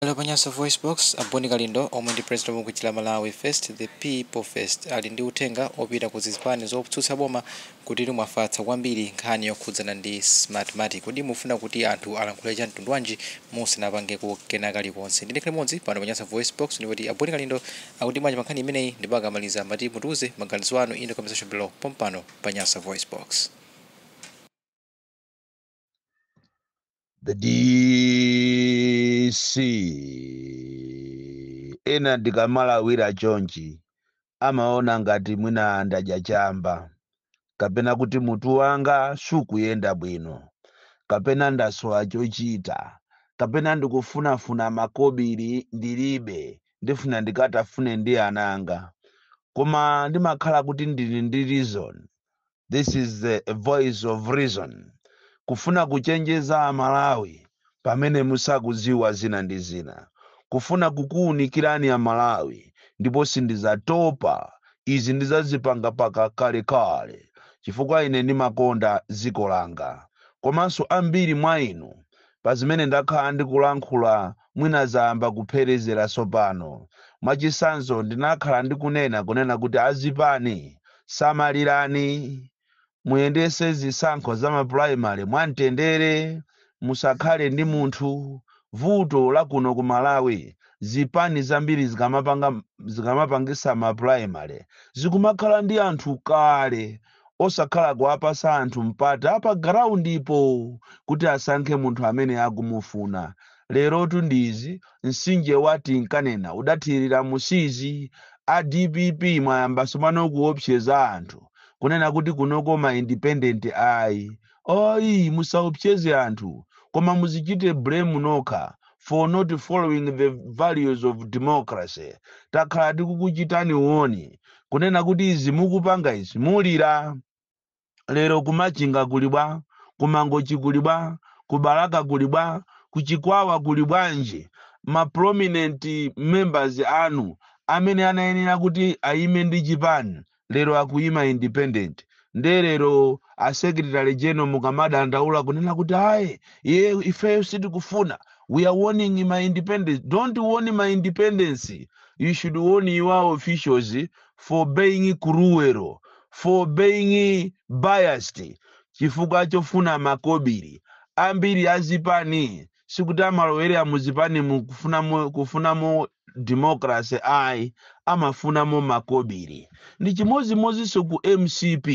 Lero pa Nyasa VoiceBox, a Boni Kalindo omwe ndi president wa bungwe la Malawi First the People First ali ndi uthenga opita ku zipani zotsutsa boma kuti mwafatsa kwambiri nkhani yokhudzana ndi Smartmatic. Kodi mufuna kuti anthu alankhule cha mtundu wanji musanapangeko kena kalikonse? Ndine Clemodzi pano pa Nyasa VoiceBox ndipo kuti a Boni Kalindo akuti bwanji pa nkhani imeneyi ndipo akamaliza mutiuze maganizo anu in the comment section below pompano pa Nyasa VoiceBox. the dc ena ndikamalawirira chonchi amaona ngati mwina ndadya chamba kapena kuti mutu wanga sukuyenda bwino kapena ndasowa chochita kapena ndikufunafuna makobiri ndilibe ndifuna ndikatafune ndi ananga koma ndimakhala kuti ndili ndi reason this is the voice of reason kufuna kuchenjeza amalawi pamene musakuziwa zina ndi zina kufuna kukuunikirani amalawi ndipo sindizatopa izi ndizazipanga mpaka kalekale chifukwa ine ndimakonda dziko langa komanso ambiri mwa inu pa zimene ndakhala ndikulankhula Mwina zayamba kupherezera tsopano. Mwachitsanzo, ndinakhala ndikunena kunena kuti azipani, samalirani, muyendetse zisankho za mapulaimale mwamtendere, musakhale ndi munthu. Vuto la kuno ku Malawi, zipani zambiri zikamapangitsa mapulaimale, zikumakhala ndi anthu kale osakhala kuwapasa anthu mpata pa ground po kuti asankhe munthu amene akumufuna. Lerotu ndi izi, mtsinje wa tinkanena udathirira mu Siizi. A dpp mwayambaso mano kuwopsyeza anthu kunena kuti kunoko ma independent ayi. Ayi musaopseze anthu koma muzichite blame nokha for not following the values of democracy. Takhala tikukuchitani warn kunena kuti izi mukupanga izi mulira. Lero ku Machinga kuli bwa? Ku Mangochi kuli bwa? Ku Balaka kuli bwa? Ku Chikwawa kuli bwanji? Ma prominent members anu amene anayenera kuti ayime ndi chipani lero akuyima independent nde lero a secretary general mukamadandaula kunena kuti ayi iye ifeyo sitikufuna we are warning ma independents don't warn ma independents you should warn your officials for being cruel for being biased chifukwa chofuna makobiri ambiri azipani sikuti amalowera mu zipani mu kufunamo kufunamo democracy ayi amafunamo makobiri ndi chimodzimodzinso ku mcp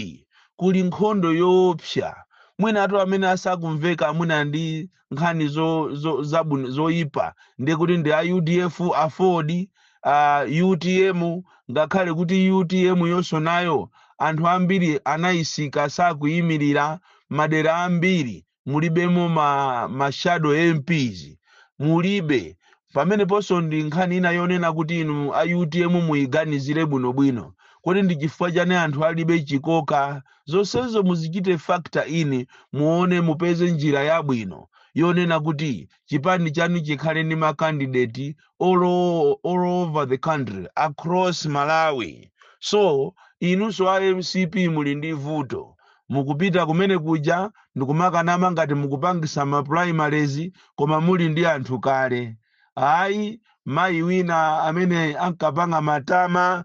kuli nkhondo yoopsa mwinatu amene asakumveka mwina ndi nkhani zo, zo, zabwino zoyipa ndiye kuti ndi a udf aford a utm ngakhale kuti utm yonso nayo anthu ambiri anayisika sakuyimirira madera ambiri mulibemo ma, ma shadow mps mulibe pameneponso ndi nkhani ina yonena kuti inu a utm muyiganizire bwinobwino kodi ndi chifukwa chani anthu alibe chikoka zonsezo muzichite factor in muone mupeze njira yabwino yonena kuti chipani chanu chikhale ndi makandideti all, o- all over the country across malawi so inunso a mcp muli ndi vuto mukupita kumene kuja ndikumakanama ngati mukupangisa ma primaries koma muli ndi anthu kale ayi mayi wina amene ankapanga matama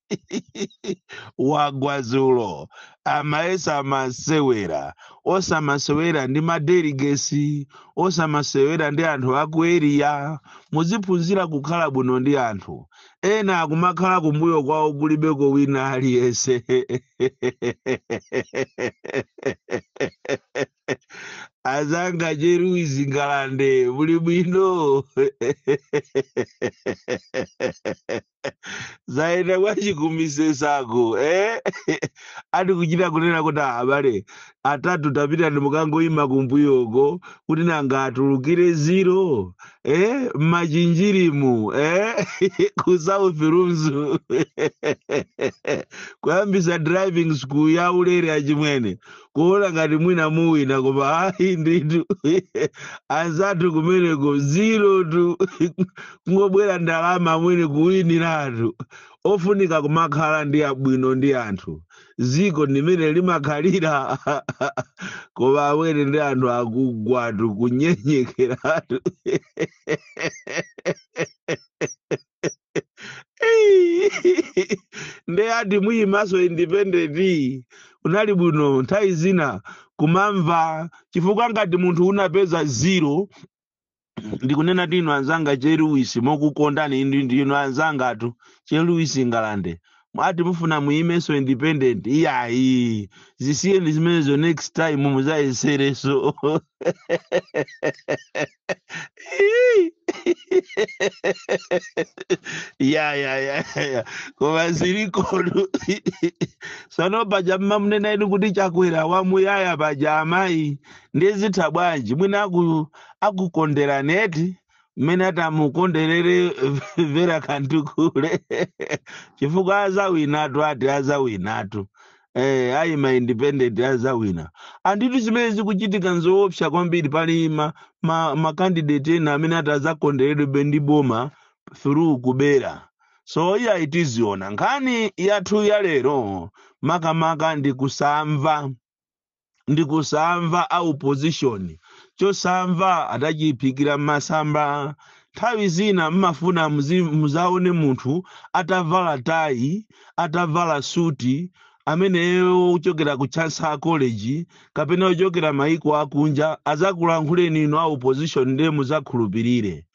wagwa dzulo amayesa masewera osamasewera ndi madeligesi osamasewera ndi anthu aku eriya muziphunzira kukhala bwino ndi anthu ena akumakhala kumbuyo kwawo kulibeko wina aliyense anzanga che luisi ngalande muli bwino zaenda kwachikumisesako eh? ati kuchita kunena kuti "Ah, abale atatu tapitani mukangoima kumbuyoko kuti nanga atulukire ziro eh? mmachinjirimu eh? ku south lunzu kuyambisa driving school ya ulere achimwene kuona ngati mwina awina koma ayi ndithu anzathu kumeneko zero tu kungobweretsa ndalama amwene kuwiniratu ofunika kumakhala ndi ubwino ndi anthu dziko ndimene limakhalira koma amwene ndi anthu akugwatu kunyenyekeratu Ei! nde ati muyimanso independent unali bwino nthawi zina kumamva chifukwa ngati munthu unapeza zero ndikunena inu anzanga che luisi mokukondani inu ndinu anzangatu che luisi ngalande mwati mufuna muyimenso independent iyayi, zisiyeni zimenezo next time muzayesereso ya ya ya ya koma zilikotu sono paja mmamunena inu kuti chakwera wamuyaya paja amayi nde zitha bwanji mwina aku akukonderani eti mmene atamukonderere vera kantukule chifukwa azawinatu ati azawinatu eh, ayi ma independent azawina ndithu zimene zikuchitika nzoopsa kwambiri pali ma, ma, ma candidate ena amene ati azakonderedwe ndi boma through kubera so iya itiziona nkhani yathu ya lero makamaka ndi kusamva ndi kusamva a opposition chosamva anachiphikira m'masamba nthawi zina mmafuna muzi- muzaone munthu atavala tayi atavala suti ameneyo wochokera ku chancellor college kapena wochokera maiko akunja azakulankhuleni inu a opposition ndiye muzakhulupirire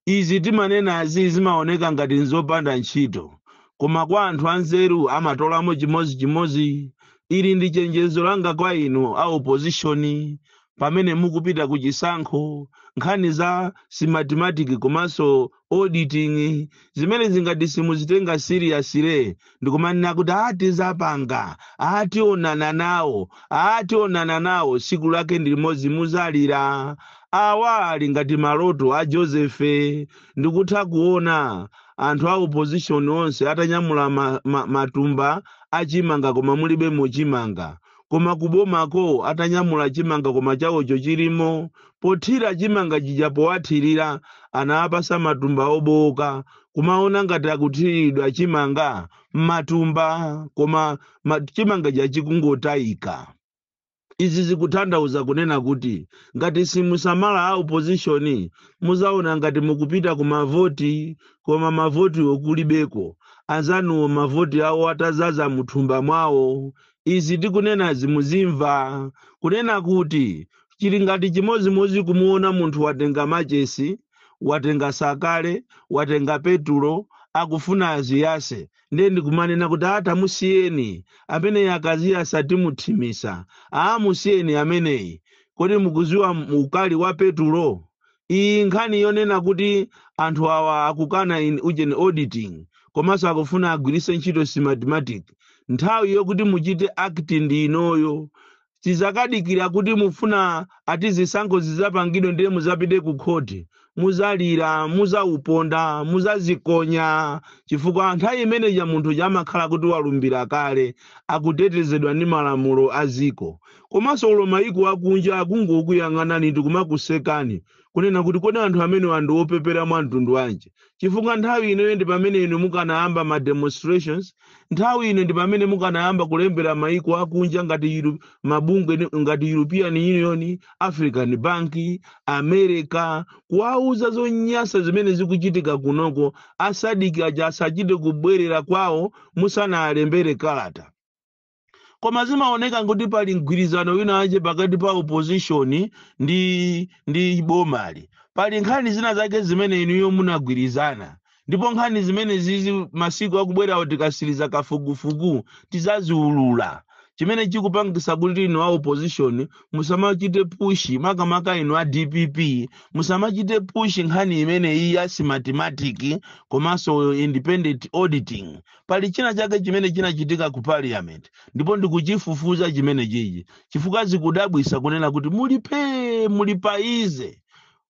izi timanenazi zimaoneka ngati nzopanda ntchito koma kwa anthu anzeru amatolamo chimozichimozi ili ndi chenjezo langa kwa inu a opozishoni pamene mukupita ku chisankho nkhani za Smartmatic komanso auditing zimenezi ngati simuzitenga seriously ndikumanena kuti aa tizapanga aa tionana nawo aa tionana nawo siku lake ndi limodzi muzalira awa ali ngati maloto a josefe ndikutha kuona anthu a opposition onse atanyamula ma, ma, matumba achimanga koma mulibe mo chimanga koma kubomako atanyamula chimanga koma chawocho chilimo pothira chimanga chija powathirira anawapasa matumba obowoka kumaona ngati akuthiridwa chimanga mmatumba koma ma- chimanga chija chikungotayika izi zikutanthauza kunena kuti ngati simusamala a opposition muzaona ngati mukupita ku mavoti koma mavotiwo kulibeko anzanuwo mavoti awo atazaza muthumba mwawo izi tikunenazi muzimva kunena kuti chili ngati chimodzimodzi kumuona munthu watenga machesi watenga sakale watenga petulo akufuna aziyase ndiye ndikumanena kuti aa tamusiyeni ameneyi akaziyasa timuthimisa aa musiyeni ameneyi kodi mukuziwa ukali wa petulo iyi nkhani yonena kuti anthu awa akukana ujeni auditing komanso akufuna agwiritse ntchito smartmatic nthawi yokuti muchite act ndi inoyo tizakadikira kuti mufuna ati zisankho zizapangidwe ndiye muzapite ku khoti muzalira muzauponda muzazikonya chifukwa nthawi imene ija munthu uja amakhala kuti walumbira kale akutetezedwa ndi malamulo a dziko komanso olo mayiko akunja akungokuyang'anani ndi kumakusekani kunena kuti kodi anthu amenewa ndi opepera mwa mtundu wanji chifukwa nthawi ino ndi pamene inu mukanayamba ma demonstrations nthawi ino ndi pamene mukanayamba kulembera mayiko akunja ngati Euro- mabungwe ni- ngati european union african bank america kuwauza zonyansa zimene zikuchitika kunoko a SADC aja asachite kubwerera kwawo musanalembere kalata koma zimaoneka kuti pali mgwirizano wina wake pakati pa opposition ndi bomali pali nkhani zina zake zimene inuyo munagwirizana ndipo nkhani zimene zizi masiku akubwerawo tikatsiriza kafukufuku tizaziulula chimene chikupangitsa kuti inu a opposition musamachite push makamaka inu a dpp musamachite push nkhani imene iyi ya smartmatic komanso independent auditing pali china chake chimene chinachitika ku parliament ndipo ndikuchifufuza chimene chichi chifukwa zikudabwitsa kunena kuti muli pee muli paize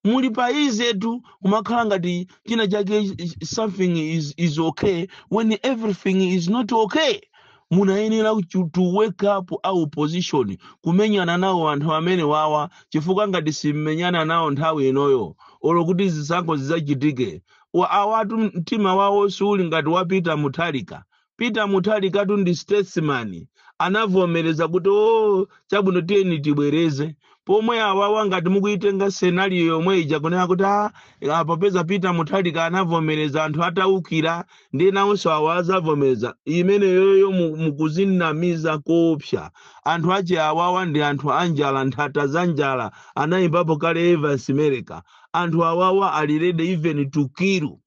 muli paizetu kumakhala ngati china chake is- is- something is, is okay when everything is not okay munayenera kuchu- to wake up a opposition kumenyana nawo anthu amene wawa chifukwa ngati simmenyana nawo nthawi inoyo olo kuti zisankho zidzachitike Wa awatu mtima wawo siuli ngati wa Peter Mutharika. Peter Mutharikatu ndi statesman. Anavomereza kuti oo chabwino tiyeni tibwereze. Pomwe awawa ngati mukuitenga scenario yomwe ija kunena kuti ah ah, popeza Peter Mutharika anavomereza anthu ataukira ndiye awanso awa azavomereza. Imeneyoyo mu- mukuzinamiza koopsa. Anthu ache awawa ndi anthu anjala nthata za njala anayimbapo kale Evans Mereka. anthu awawa ali ready even to kill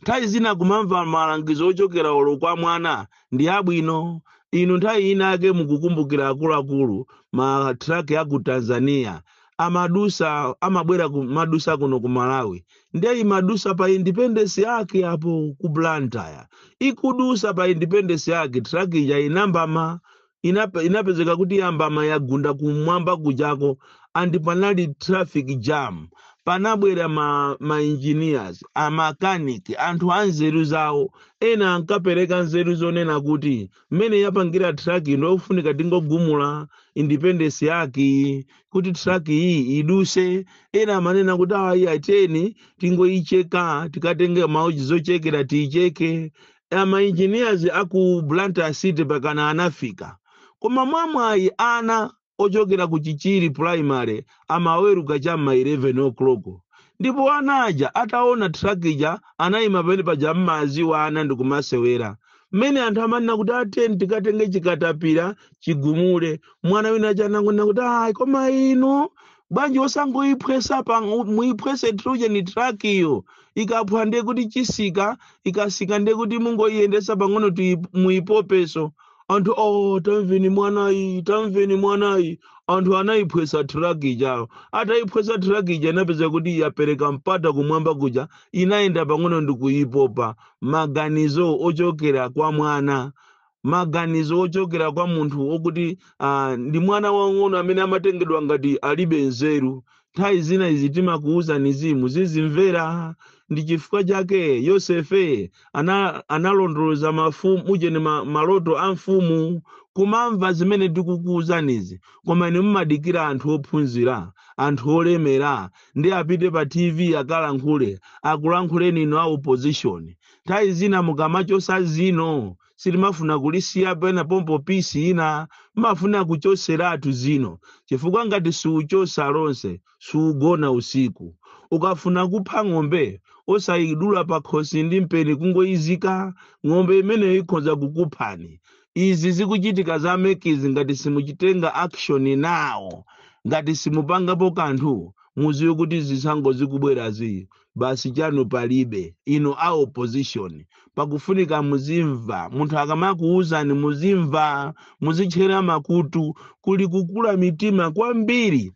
nthawi zina kumamva malangizo ochokera olo kwa mwana ndi abwino inu nthawi inayake mukukumbukira akuluakulu ma truck a ku tanzania amadusa amabwera ku madusa kuno ku malawi ndiye imadusa pa independence arch apo ku blantyre ikudusa pa independence arch truck ija inambama inape, inapezeka kuti yambamba yagunda kumwamba kujako and panali traffic jam panabwera ma, ma engineers a mechanic anthu a nzeru zawo ena ankapereka nzeru zonena kuti mmene yapangira truck ino yofunika tingogumula independence yake kuti truck iyi iduse ena amanena kuti ayi ateni tingoicheka tikatenge mauji zochekera tiicheke ma engineers a ku Blantyre City pakana anafika. Koma mwamwayi ana ochokera ku Chichiri Primary amaweruka cha m'ma 11 o'clock. Ndipo ana aja ataona truck ija anayima pamene paja mmadziwa ana ndikumasewera. Mmene anthu amanena kuti ateni tikatenge chikatapira chigumule. Mwana wina uja anangonena kuti ayi koma inu bwanji osangoyiphwesa pa muyiphwese ujeni truck iyo ikaphwa ndiye kuti isika ikasika ndiye kuti mungoyiyendesa pang'ono tuyi- muyipopeso anthu oh tamveni mwanayi tamveni mwanayi anthu anayiphwesa truck ijayo atayiphwesa truck ija inapezeka kuti yapereka mpata kumwamba kuja inayenda pang'ono ndikuyipopa maganizo ochokera kwa mwana maganizo ochokera kwa munthu wokuti ah, ndi mwana wang'ono amene amatengedwa ngati alibe nzeru nthawi zina izi timakuwuzanizi muzizimvera ndi chifukwa chake yosefe ana, analondoloza mafumu ujeni ma, maloto a mfumu kumamva zimene tikukuwuzanizi koma inu mumadikira anthu ophunzira anthu olemera nde apite pa tv akalankhule akulankhuleni inu a opposition nthawi zina mukamachosa zino sumafuna kulisiya penapo pisi ina umafuna kuchoseratu zino chifukwa ngati siuchosa lonse siugona usiku ukafuna kupha ng'ombe osayidula pakhosi ndi mpeni kungoyizika ng'ombe imeneyo ikhoza kukuphani izi zikuchitika za MEC-zi ngati simukutenga action nawo ngati simupangapo kanthu muziwe kuti zisankho zikubwerazi basi chanu palibe inu a opposition pakufunika muzimva munthu akamakuwuzani muzimva muzitchera makutu kuli kukula mitima kwambiri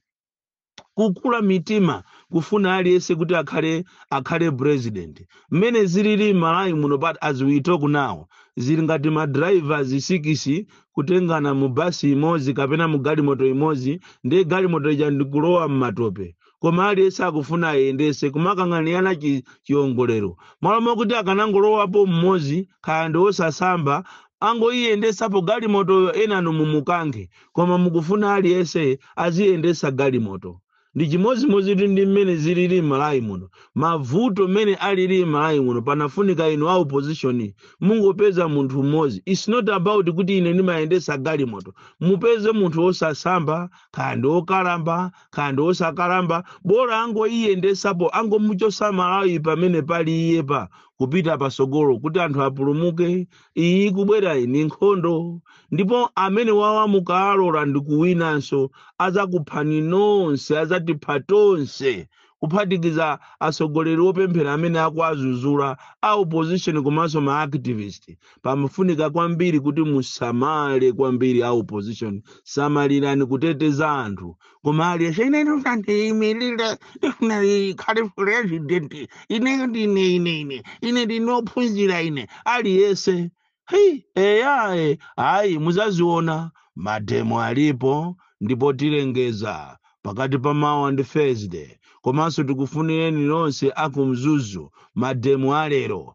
kukula mitima kufuna aliyense kuti akhale akhale president mmene zilili malawi muno but as we talk now zili ngati ma drivers sikisi kutengana mu basi imodzi kapena mu galimoto imodzi ndiye galimoto ija ndikulowa mmatope koma aliyense akufuna ayendese kumakang'anirana chi- chiongolero malo mokuti akanangolowapo mmodzi kaya ndi osasamba angoyiyendesapo galimotoyo enanu muzikankha koma mukufuna aliyense aziyendesa galimoto ndi chimodzimodzi tu ndi mmene zilili m'malawi muno mavuto mmene alili m'malawi muno panafunika inu a opposition mungopeza munthu mmodzi its not about kuti ine ndimayendesa galimoto mupeze munthu osasamba kaya ndi okalamba kaya ndi osakalamba bola angoyiyendesapo angomuchosa malawi pamene pali iyepa kupita pasogolo kuti anthu apulumuke iyi ikubwerayi ni nkhondo ndipo amene wawamuka alora ndi kuwinanso azakuphani nonse azatipha tonse kuphatikiza atsogoleri opemphera amene akuwazuzula a opposition komanso ma activist pamafunika kwambiri kuti musamale kwambiri a opposition samalirani kuteteza anthu koma aliyese ine ndifuna ndiyimirire ndifuna ndikhale president ine ndine ine ine ine ndine ophunzira ine aliyese hei eyaye ayi muzaziona mademo alipo ndipo tilengeza pakati pa mawa ndi thursday komanso tikufunireni nonse akumzuzu mademo alero